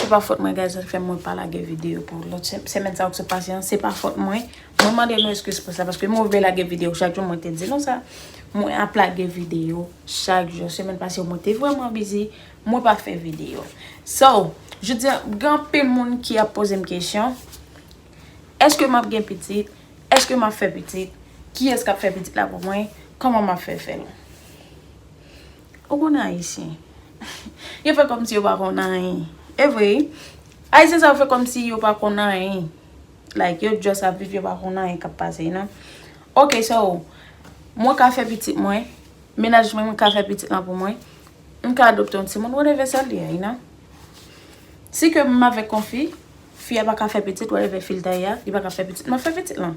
Se pa fòt mwen guys sa fè mwen pa lage video pou lòt semèn sa yo ki sot pase an, se pa fòt mwen, mwen mande nou eskiz pou sa paske mwen vle lage video chak jou mwen te di nou sa, mwen ap lage video chak jou, semèn pase yo mwen te vreman bizi mwen pa fè video. So, jodi an gen anpil moun ki ap poze m kesyon, eske map gen pitit, eske map fè pitit, kiyès kap fè pitit la pou mwen, kòman map fè fèl. Ou konnen ayisyen. Yo fè kòmsi yo pa konn anyen. E vre wi. Ayisyen sa yo fè kòmsi yo pa konn anyen. Like yo just ap viv yo pa konn anyen k ap pase you know. Ok so, mwen ka fè pitit mwen. Menaj mwen ka fè pitit lan pou mwen. M ka adopte yon timoun whatever sa l ye you know. Si ke m avèk yon fi, fi a pa ka fè pitit whatever fi l ta ye a, li pa ka fè pitit. M ap fè pitit lan.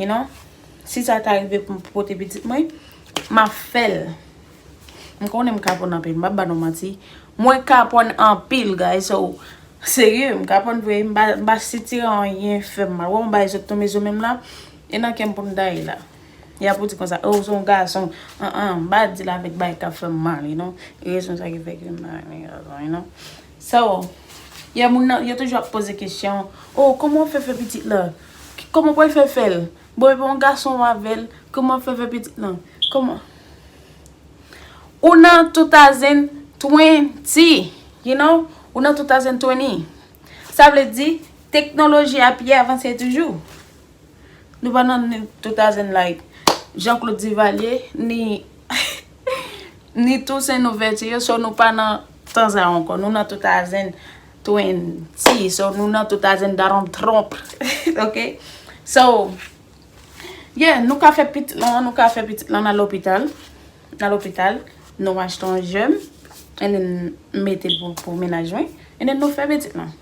You know, si sa ta rive pou m pote pitit mwen, m ap fè l. M konnen m kapon anpil, m pa ba nou manti. Mwen kapon anpil, guys. So, serye, m kapon vre. M pa sitire anyen fè m mal. Wè yon bagay sot tonbe sou menm la, e nan kè m pou m ta ye la. Y ap ou di konsa, oh, se yon gason. An an, m pa di l avèk bagay k ap fè m mal, you know. E rezon sa ki fè ke m pa renmen gason, you know. So, yè moun nan, yo toujou ap poze kesyon, oh, kòman ou fè fè pitit la? Koman wap fe fel. Bon epi yon gason ou avel. Koman wap fe fe pitit lan. Koman. Ou nan 2020. You know. Ou nan 2020. Sa vle di. Teknoloji a pi avanse toujou. Nou pa nan 2000 like. Jean Claude Duvalier. Ni. Ni Toussaint Louverture. So nou pa nan tan sa ankò. Nou nan 2000. Twin T So nou nan 2000 Donald Trump Ok So Yeah nou ka fè pitit lan Nou ka fè pitit lan nan lopital Nan lopital Nou achte yon jèm And then nou mete l pou mennaj mwen And then nou fè pitit lan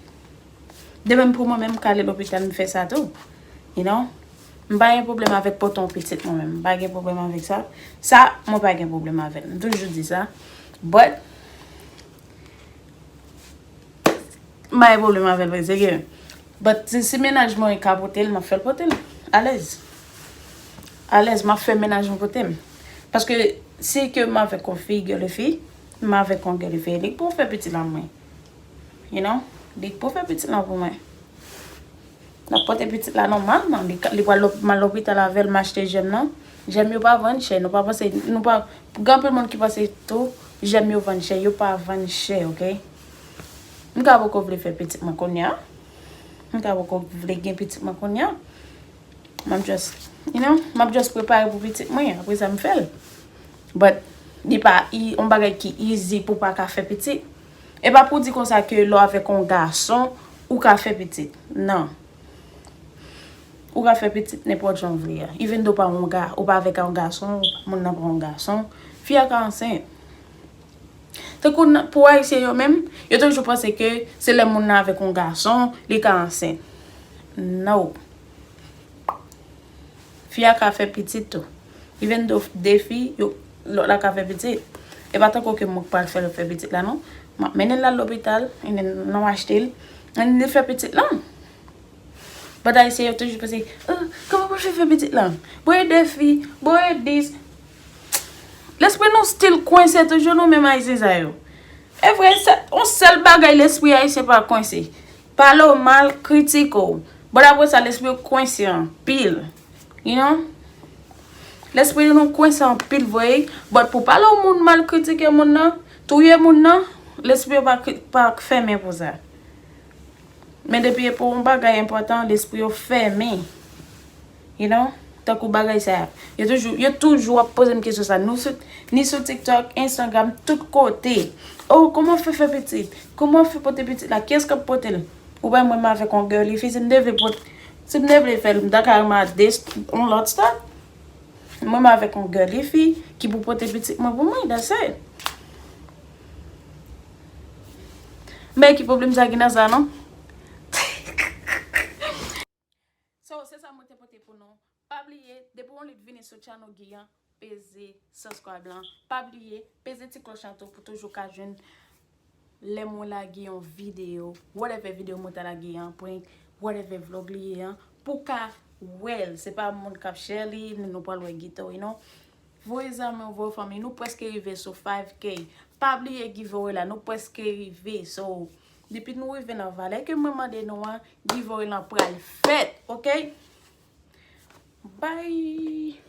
De menm pou mwen menm m ka ale lopital m fè sa tou You know M pa gen pwoblèm avèk pote yon pitit mwen menm M pa gen pwoblèm avèk sa Sa mwen pa gen pwoblèm avè l M toujou di sa But M pa gen pwoblèm avè l vre, se gen. But si mennaj mwen ka pote l, m ap fè l pote l. Alèz. Alèz, m ap fè mennaj mwen pote m. Paske si ke m avèk yon fi gèl fi, m avèk yon gèl fi, li k pou fè pitit la pou mwen. You know? Li k pou fè pitit la pou mwen. Nap pote pitit la nòmal man li pral lopimal lopital avèl m achte jèm nan jèm yo pa vann chè nou pa panse nou pa gen anpil moun ki panse tou jèm yo vann chè yo pa vann chè ok m ta poko vle fè pitit mwen kounya m ta poko vle gen pitit mwen kounya map jus you know map jus prepare pou pitit mwen apre sa m fèl but li pa on bagay ki easy pou paka fè pitit. E pa pou di konsa ke lè w avèk yon gason, ou ka fè pitit. Non. Ou ka fè pitit nenpòt jan ou vle a. Even though ou pa avèk yon gason, moun nan pa yon gason, fi a ka ansent. Tankou pou Ayisyen yo menm, yo toujou panse ke se lè moun nan avèk yon gason, li ka ansent. No. Fi a ka fè pitit tou. Even though 2 fi, yo, lòt la ka fè pitit. E pa tankou ke mwen k pral fè l fè pitit la non. M ap mennen l al lopital, and then lè m achte l, and then li fè pitit lan. But Ayisyen yo toujou pase, oh, kòman pou l fè fè pitit lan? Bon e 2 fi, bon e dis. Lespri nou still kwense toujou nou menm Ayisyen sa yo. E vre, se on sèl bagay lespri Ayisyen pa kwense. Pale w mal, kritike w. Bon apre sa lespri w kwense anpil. You know? Lespri nou kwense anpil vre wi. But pou pale w moun mal, kritike moun nan, touye moun nan, lespri yo pa fèmen pou sa. Men depi e pou yon bagay enpòtan, lespri yo fèmen. You know, tankou bagay sa a. Yo toujou, yo toujou ap poze m kesyon sa a. Nou sou, ni sou TikTok, Instagram, tout kote. Oh, kouman w fè fè pitit? Kouman w fè pote pitit la? Kiyès k ap pote l? Ou wè mwen m avèk yon girly fi, si m te vle pot, si m te vle fè l, m ta ka rema de, yon lòt staff. Mwen m avèk yon girly fi ki pou pote pitit mwen pou mwen, that's it. Men ki pwoblèm sa ki nan sa non. So se sa mwen te pote pou nou. Pa bliye depi yon lit vini sou channel Guy an peze subscribe lan. Pa bliye peze ti cloche lan tou pou toujou ka jwenn lè mwen lage yon video. Whatever video mwen ta lage an prank, whatever vlog li ye an pou ka wèl. Se pa moun kap share li ni nou pral wè Guy tou non. Voye zanmi w, voye fanmi. Nou preske rive sou 5k. Pa bliye giveaway la. Nou preske rive. So Depi nou rive nan valè ke mwen mande nou an, giveaway lan pral fèt, ok? Bye!